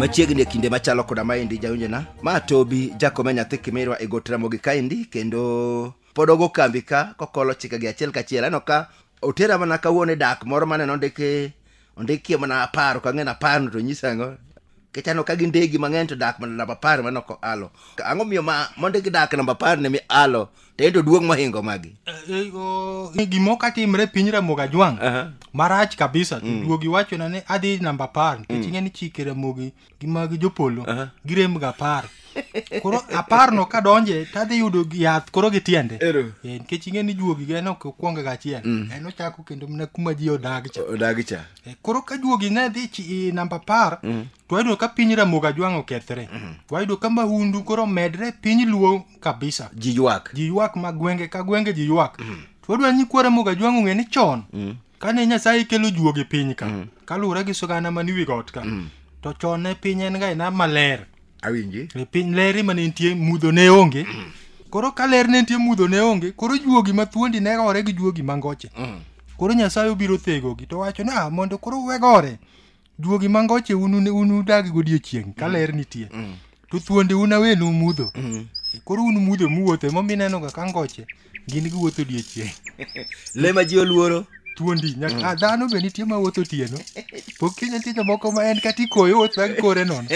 machiegni e kinde machalo koda maendi jawinjona ma tobi jakome nyathi kimirwa e got ramogi kaendi kendo pod ogo kambi ka kokolo chikegi achiel kachiel aneno ka otera mana kawuono e dak moro maneno ndiki ondikie mana apar ka ng'en apar no to nyisa ang'o kichano ka gin ndegi mang'eny to dak mana namba apar mano ko alo ang'o miyo ma mondo gidak namba apar ne mi alo to en to duong' mohingo magi gimo katimre piny ramogi ajwang' Aha. marach kabisa to duogi wachona ni adhi namba apar nikech ing'e ni chike ramogi gi mag jopolo Aha. girem ga apar koro apar no kadonje tadhi yudo gi- yath koro gi tiende Ero. Eh, nikech ing'e ni juogi ga en ok okwonga ga achiel en ochako kendo mana kuma ji odag cha odagi cha Eh, koro ka juogi ne dhi chi- i namba apar to wayudo ka piny ramogi ajwang' okethre to wayudo ka mahundu koro medre e piny luo kabisa ji ywak ji ywak ma gwenge ka gwenge ji ywak to wadwa ni kwara moga jwang' ong'e ni chon kane nyasaye kelo juogi piny ka mm. kaluwore gi sigana man wi got ka mm. to chon ne piny en ga ina maler awinji e piny leri mane nitie mudho ne onge mm. koro ka ler ne nitie mudho ne onge koro juogi ma thuondi ne gore gi juogi mangoche mm. koro nyasaye obiro thegogi to wacho ni ah, mondo koro wegore Duogi mangoche un un- un udag godiechieng' ka ler nitie. To thuonde un awenu mudho. Koro un mudho muwuotho ema omiyo inenoga ka ngoche gin giwuotho odiechieng'. Le ma ji oluoro. Thuondi nyaka ah, dhano be nitie ma wuotho otieno. Pok kiny nitie jomoko ma en kata ikoyo wuotho gi kore nono.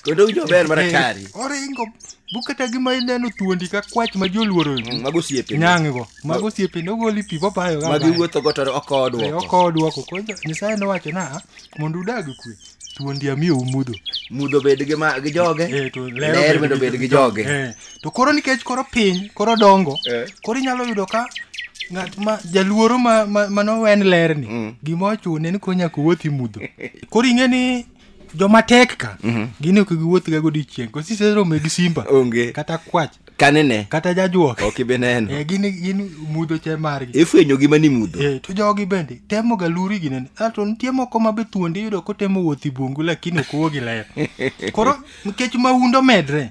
Kendo winjo ber mar atari. Oringo Bu kata gima ineno thuondi ka kwach ma joluoro Mm, Mago osiepe. nyang' go. Mago osiepe ne ogoli pi bobayo ga. Magi bayo. wuotho go to ok Eh, odwoko. Oko dwoko. Koro Nyasaye nowacho na mondo udag e kwe. Thuondi amiyo umudho. Mudho bed gi ma gi joge. Eh, to Ler lero bende bed gi joge. Eh, to koro nikech koro piny koro dongo Eh. koro inyalo yudo ka ng'at ma jaluoro ma, ma, ma nowen lerni Mm. gima ochune ni konya kowuothi mudho koro ing'e ni joma tek ka mhm. gin ok giwuoth ga godiechieng' kosi seromo gi simba onge kata kwach kanene kata jajuok ok ibe neno eh, gin gin mudho che margi ifwenyo gi mani mudho eh, to jogi bende temo ga luri gi nene ato nitie moko ma be thuonde yudo kotemo wuoth i bungu lakini ok wuogi ler koro nikech mahundo medre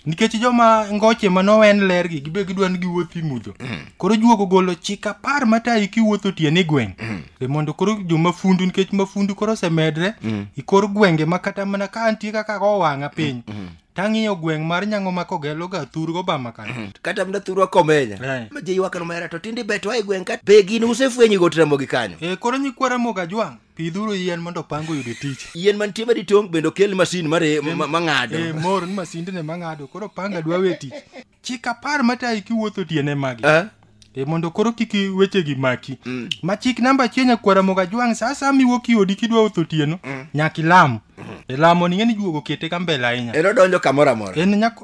nikech joma ngoche ma nowen lergi gibe gidwa ni giwuothi mudho koro juok ogolo chik apar matayi kiwuotho otieno e gweng' e mondo koro jomafundu nikech mafundu koro osemedre ikor gwenge ma kata mana ka antie kaka go wang'a piny tang'iyo gweng' mar nyango ma kogeloga thurgo bama kana kata mna thurwa komenya Eh. ma jeyuakano mera to tinde bet wa e gweng' ka be gin usefwenyi go tramogi kanyo e koro nyikwara moga jwang' pidhuru yien mondo opango yude tich yien mantie madi tong' bende okel masin mare mang'ado e mor ni masindene mang'ado koro panga dwa we tich chik apar matayi kiwuotho tiene magi eh? e mondo koro kik wechegi maki mm. ma chik namba achiel nyakwara moga jwang' sa sa miwuok iodi kidwa wotho tieno mm. nyaka ilam e lamo ni ng'eni juogo kete ka mbele ahinya en odonjo kamoro amora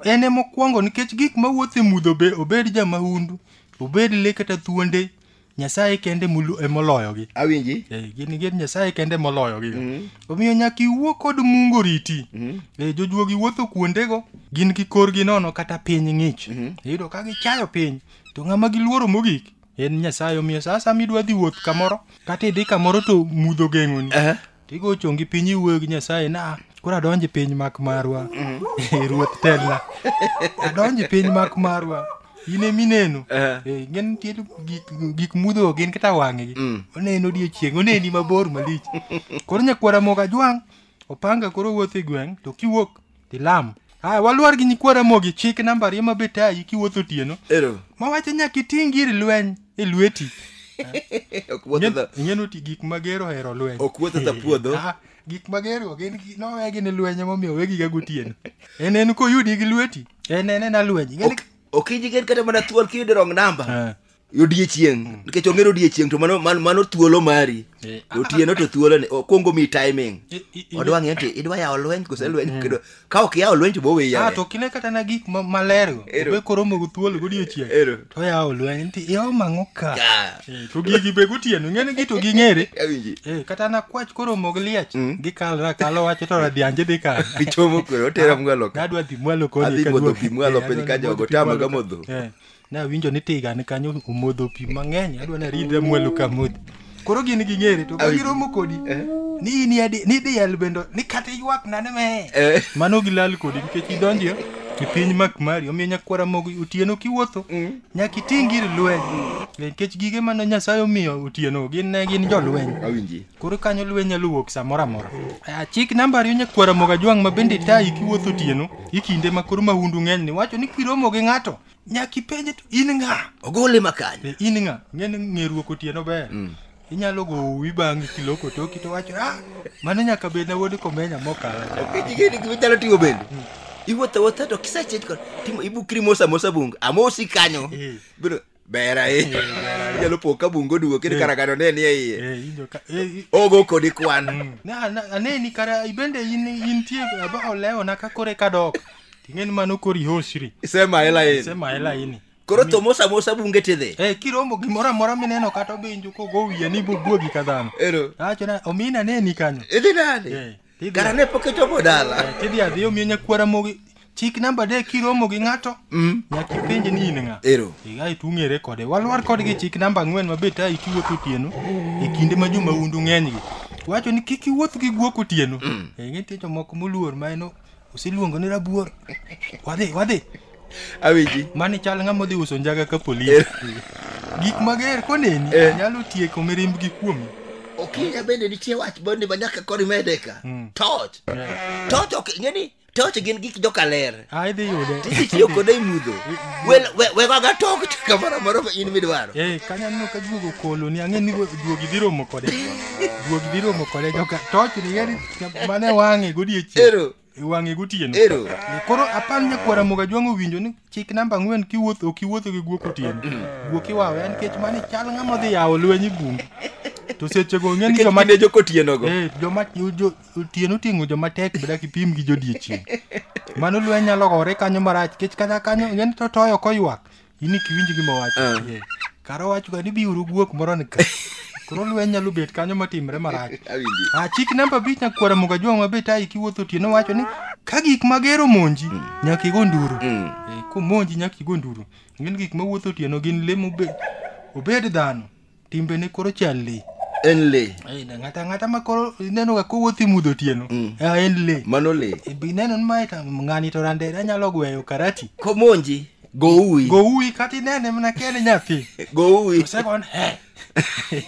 en e mokwongo nikech gik mawuotho e mudho obed jamahundu obed le kata thuonde Nyasaye kende mulu- e moloyogi awinji Eh, gin gin nyasaye kende moloyogi omiyo nyaka iwuo kod mungo riti Eh, jojuogi wuotho kuondego gin gi korgi nono kata piny ng'ich iyudo ka gichayo piny to ng'ama giluoro mogik en nyasaye omiyo sa asama idwa dhi wuoth kamoro kata idhi kamoro to mudho geng'oni Aha. to igo chongi piny iwuoyo gi nyasaye na "Ah, koro adonj e piny mak marwa ruoth telna adonj e piny mak marwa in ema ineno Eh. Eh, ing'e ni nitie gik- gik mudho gin kata wang'egi oneno odiechieng' oneni mabor malich koro nyakwara moga jwang' opanga koro wuotho e gweng' to kiwuok Tilam. Haya, waluor gi nyikwa Ramogi, chik namba ariyo ma betayi kiwuotho otieno. Ero. Mawacho nyaka iting' gir lweny e lweti. Ok wuotho dha- Ing'e noti gik magero hero lweny. Ok wuotho dha puodho. Ah, Gik magero gin gi- nowegi ni lweny emomiyo wegiga gotieno. En en koyudi gi lweti, en en ena lweny. Ing'e ni- Ok- Ok ijigen kata mana thuol kiyudo wrong number. Eh. odiechieng mm. nikech ong'eyo odiechieng to mano, mano, mano thuolo mari eh, ah, otieno ah, to ah. thuolo ni okuongo mi timing eh, odwa ng'e ti idwa yawo lweny kose mm. lweny kedo ka ok yawo lweny to bowe yawe to kine kata na gik maler go be koromo go thuolo godiechieng to yawo lweny nti yawo mang'o ka eh, to gigi be gotieno ng'eni gi to ging'ere kata na kwach koromo gi liech mm. gikalra kalo wacho to radhianje dhi kar gichomo kwe otera mwalo ka adwa dhi mwalo koni adhi modho pi mwalo piny ka jogo tamaga modho Ne awinjo ni tiga ni kanyo omodho pi mang'eny, adwa ni aridre mwalo ka modhi. Koro gin ging'ere to Awi- giromo kodi Eh. ni in yadi ni diel bende ni kata ywak nane me. Eh. Mano gilal kodi nikech idonjo e piny mak mari omiyo nyakwara mogo otieno kiwuotho nyaka iting gir lweny nikech gige mane Nyasaye omiyo otieno gin ne gin jolweny Awinji. koro kanyo lweny nyalo wuok samoro amora Ah, chik namba ariyo nyakwara moga jwang' ma bende tayi kiwuotho otieno ikinde ma koro mahundu ng'eny ni wacho ni kiromo gi ng'ato nyaka ipenje to in ng'a ogole makanya Eh, in ng'a ng'eni ng'eruok otieno ber inyalo go uwi bang'e kiloko toki to wacho ah mano nyaka bed na wuod komenya mokala cha." Kigeni gima inyalo timo bende iwuotho awuotha to kisechet kod timo ibukri mos amosa bungu amosi kanyo Eh. biro ber ahinya inyalo po ka bungu oduogo kendo karagano ne nie iye Eh, ijo ka- eh, i- ogo kodi kwan Na- na- aneni kara ibende in intie aba olewo na ka kore kadok Ting'e ni mano kori hosri. Sema hela yenu. Sema hela ini. Koro to mosa mosa bunge tidhi. Eh, kiromo gimoro amora mineno kata obinjo kogo wiye ni bubwogi ka dhano. Ero. Acho na omina ne ni kanyo. Idhi nade? Eh, tidhi- Kara ne pok ichopo Eh, dala. Tidhi adhi omiyo nyakwara mogi. Chik namba de kiromo gi ng'ato. Mm. Nyaka ipenje ni in ng'a. Ero. Iga itung'ere kode. Walwar kodgi chik namba ang'wen mabet a ikiwuotho otieno e kinde ma joma undu ng'enygi. Wacho ni kik iwuoth gi guok otieno. Eh, nitie jomoko moluor ma en Usiluongo ni rabuor. Wadhi, wadhi. Awiji. Mani chal ng'ama odhi uso njaga ka polis. Gik mager koneni Eh. nyalo tieko mirimb gi kuomi. Okinya bende nitie wach bende ma nyaka kori mede ka. Mm. Torch. Torch ok ng'eni torch gin gik joka ler. Ah, idhi yude. Tiji tiyo kode e mudho. Wel we we ga torch kamoro amoro ma in midwaro. Eh, kanya neno ka juogo koloni ang'e ni juogi dhi romo kode. Juogi dhi romo kode joka. Toch ni yeri mane wang'e godiechieng Ero. iwang'e gotieno Ero. koro apar nyakwara moga jwang' owinjo ni chik namba ang'wen kiwuotho ok iwuotho gi guok otieno guok iwawe en kech mane chal ng'ama odhi yawo lweny e bungu to sechego ong'e ni Nikech joma kinde joko otienogo. Eh, joma jo- otieno oting'o joma tek beda kipim gi jodiechieng' mano lweny nyalo gore kanyo marach kech kata kanyo ong'e ni totoyo koywak in iki winj gima wacho Ah. yeah. kara owachoga ni biuru guok moro ni ka koro lweny nyalo bet kanyo motimre marach Awinji. a chik namba abich nyakwara moga jwang' mabet ayi kiwuotho otieno wacho ni ka gik mager omonji nyaka igo nduru Mm. Eh, komonji nyaka igo nduru ng'eni gik mawuotho otieno gin le mobe- obed dhano timbe ne koro chal le en le Ai, na ng'ata ng'ata ma koro ineno ga kowuothi mudho otieno Mm. ah, en le mano le E, be ineno ni mae ta- ng'ani to randere anyalo gweyo karati komonji goui go uwi kata inene mana kene nyathi goui osekon he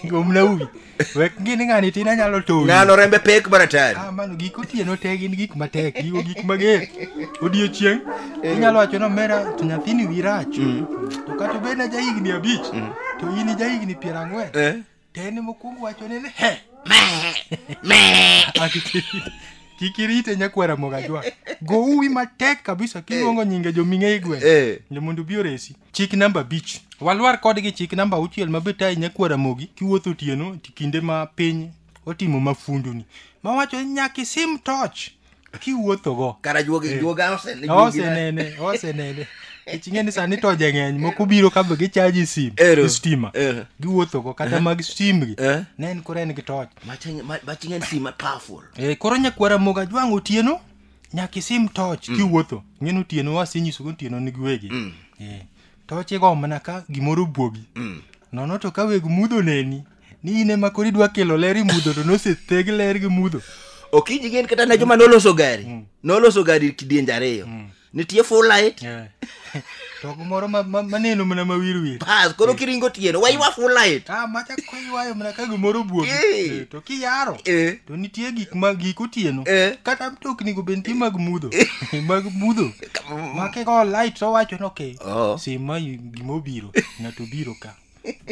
gomna uwi wek ngini ng'ani tin anyalo towi ng'ano rembe pek maratari Ah, mano gik otieno te gin gik matek gigo gik mager odiechieng' inyalo wacho ni omera to nyathini wi rach to kata obed na jahigni abich to in ija higni piero ang'wen Eh. to en mokwongo wachone ni he Ati kik- kik irite nyakwara mogajwa go uwi matek kabisa kiluongo nyinge joming'e igwe Eh. ni mondo obi oresi chik namba abich walwar kodgi chik namba auchiel ma betayi nyakwara mogi kiwuotho otieno ti kinde ma piny otimo mafunduni mawacho ni nyaka isim toch kiwuothogo kara juoga Eh. juoga osene juogi na- osenene osenene kech ing'e ni sani toje ng'eny moko biro kabe gichaji sim Ero. gi stima Ero. giwuothogo kata mag stimgi Eh. ne en koro en gi toch Maching- ma- maching en sima powerful Eh, koro nyakwara moga jwang' otieno nyaka isim toch kiwuotho ng'en otieno wasenyisogo otieno ni giwegi Eh, toch igo mana ka gimoro buogi nono to ka weg mudho neni ni in ema koro idwa kelo ler imudho to nosetheg ler gi mudho okinyi gin kata na joma noloso gari mm. noloso gari kidienje ariyo mm. nitie full light yeah. to kumoro maneno mana mawirwir bas koro eh. kiringo tieno waywa full light ah, macha koywayo mana ka gimoro buogi eh. eh, to kiyaro to nitie gik ma gik otieno kata mtoknigo be nitie mag mudho mag mudho makego light to wacho ni ok oh. sima gima obiro ng'ato biro ka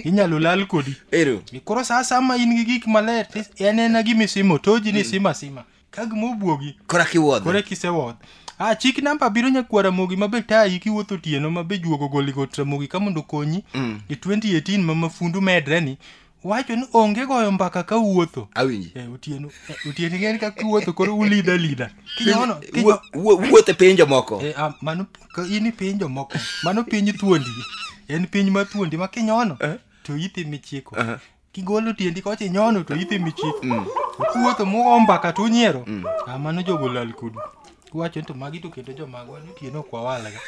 inyalo lal kodi ero E koro saa sama in gi gik maler to en ena gima isimo toji ni sima sima ka gima obuogi kora kiwuodhe kore kisewuoth a chik namba biro nyakwa ramogi mabe tayi kiwuotho otieno mabe juogo goli got ramogi ka mondo okonyi Mm. e 2018 ma mafundu medre ni wacho ni onge goyo mbaka ka uwuotho awinji e otieno e, otieno ng'en ka kiwuotho koro ulida lida kinyono kinyo Wuo- wuo- wuoth e pinje moko e, a, mano Ka in i piny jomoko mano piny thuondi en piny ma thuondi ma kinyono eh? to ithi michiko uh-huh. kigolo tiendi kocha inyono to ithi michiko mm. kuwuotho mugo mbaka to unyiero mm. ah, mano jogo lal kudu wacho ni to magi to kendo jomagwa ni tieno ok wawalga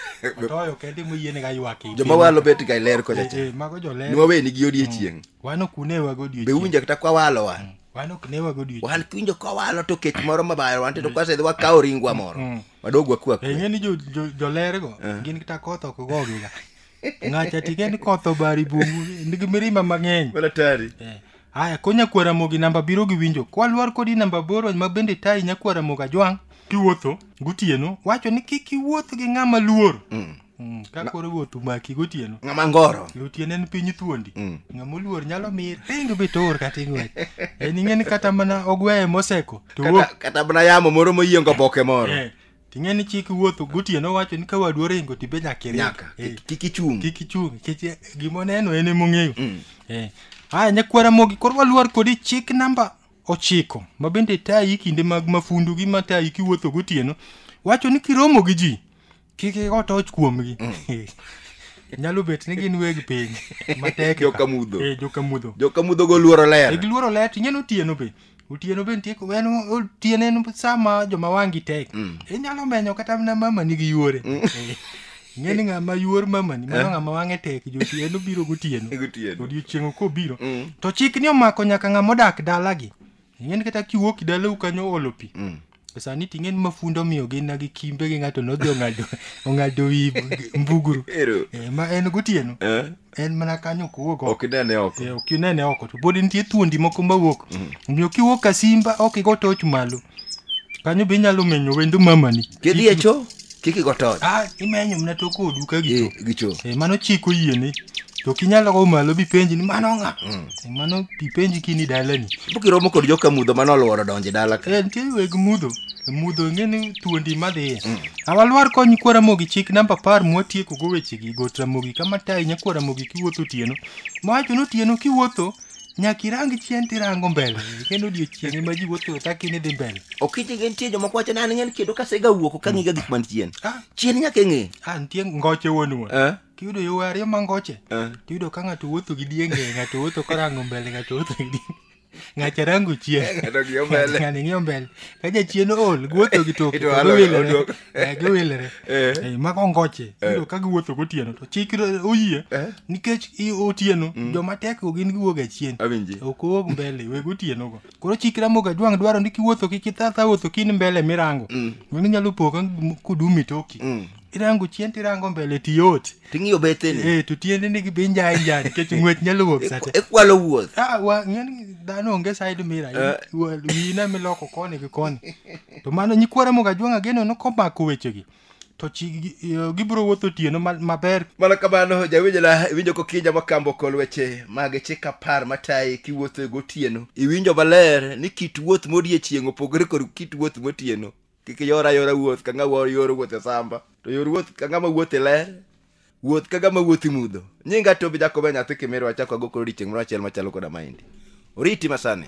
otoyo kende moyienega ywak e joma walo bet ga ler kocha eh, eh, mago joler nwaweni gi odiechieng mm. wan ok unewago odiechieng be uwinja kata kwawalo wan mm. wan ok newago odiechieng wan kiwinjo kwawalo to kech moro mabayo wan to mm. kwasedhi wakawo ringwa moro wadog wakwa kwe. Ing'e ni jo- jo- jolergo gin kata koth ok gogiga. Ng'acha tige ni koth obari bungu nigi mirima mang'eny. Wala tari. Eh, Haya, ko nyakwara mogi namba biro gi winjo. Kwa lwar kodi namba boro ma bende tayi nyakwara moga jwang' kiwuotho gotieno wacho ni kik iwuoth gi ng'ama luor. Mm, ka koro wuoth umaki gotieno ng'ama ngoro e otieno en piny thuondi Mm. ng'ama oluor nyalo mir ringo be toor kata ing'wech en ing'e ni kata mana ogweye moseko to wuok kata, kata mana yamo moro moyiengo boke moro Eh, ting'e ni chik wuotho gotieno wacho ni ka wadu oringo to ibe nyaka iring. nyaka Eh, kik- kik ichung kik ichung nikech eh, gima oneno en emong'eyo Mm. Eh, haya nyakwara mogi koro waluor kodi chik namba ochiko ma bende tayi kinde mag mafundu gi matayi kiwuotho gotieno wacho ni kiromo gi ji kik igo toch kuomgi nyalo bet ni gin weg piny matek ka. Jokamudho. Eh, jokamudho jokamudho go luoro ler giluoro ler to ineno otieno be otieno be nitie en otieno en sama joma wangi tek inyalo menyo kata mana mamani gi yuore Eh, ing'e ni ng'ama yuor mamani mano ng'ama wang'e tek josi en obiro gotieno Gotieno. odiochieng' kobiro to chik ni omako nyaka ng'ama odak dalagi ing'eni kata kiwuok dalau kanyo oolo pi mm. sani ting'eni mafundo miyo gin na gi kimbe gi ng'ato nodhi ong'ado ong'ado wi mbuguru Ero. Eh, ma en gotieno Eh? en mana kanyo ok wuog oko. ok inene oko Eh, ok inene oko to pod nitie thuondi moko mawuok omiyo kiwuok ka simba ok igo toch malo kanyo be inyalo menyo wendo mamani kidhi e choo kik igo tony ah imenyo mna to kodu ka gicho Eh, gicho Eh, mano chik oyieni to kinyalo go malo bipenji ni mano ng'a Eh, mano bipenji kini dalani pok iromo kod joka mudho mane oluoro donjo e dala ka Eh, nitie weg mudho mudho ing'e ni thuondi madhiye awalwar kony kwara mogi chik namba apar mwatieko go wechegi got ramogi kama tayi nyakwara mogi kiwuotho otieno mawacho ni otieno kiwuotho Nyaka irang chien tirango mbele. Kendo odiechieng' ema ji wuotho e taki ni dhi mbele. Okiti gin tie jomoko wacho ni an ng'en kendo kasega wuok ok ang'iga gik man chien. Ah, Chien nyaka ing'e. ah, nitie ngoche wuonwa. Eh? Kiyudo yo ariyo ma ngoche. Eh. Tiyudo ka ng'ato wuotho gi dienge, ng'ato wuotho korango mbele, ng'ato wuotho gi dienge. Ng'acha rango chien. Ng'ato ng'iyo mbele. Ng'ani ng'iyo mbele. Ka jachien ool, guotho gi toke. Ito to alo- giwilore. oduok. Eh, giwilre Eh. Eh, ma kongoche iyudo ka giwuotho gotieno to chik oyie Eh. nikech i- otieno joma tek go gin giwuok achien Awinji. ok owuog mbele weg otieno go koro chik ramoga jwang' dwaro ni kiwuotho kik ithatha wuotho kin mbele mirango mano inyalo po ka- kudumi toki irango chien tirango mbele tiyot ting'iyo betheni eh, to tiendeni gi be njae njae nikech ng'wech nyalo wuok sate ikwalo wuoth Ah, wa- ng'e ni dhano onge side mira Eh. wina miloko koni gi koni to mano nyikwara mogajwang' ageno nokomako wechegi to chi- gi- eh, gibiro wuotho otieno ma- maber mana kamano jawinjo na iwinjo kokija makambo kol weche mag chik apar matayi kiwuotho e gotieno iwinjo maler ni kit wuoth modiechieng' opogore kod kit wuoth motieno kik iyor ayora wuoth ka ng'ama yor wuoth e samba to yor wuoth ka ng'ama wuoth e ler wuoth ka ng'ama wuoth imudho nyinga tobi jakobe nyathi kimirwa achako ago koro odiechieng' moro achiel machalo koda maendi oriti masani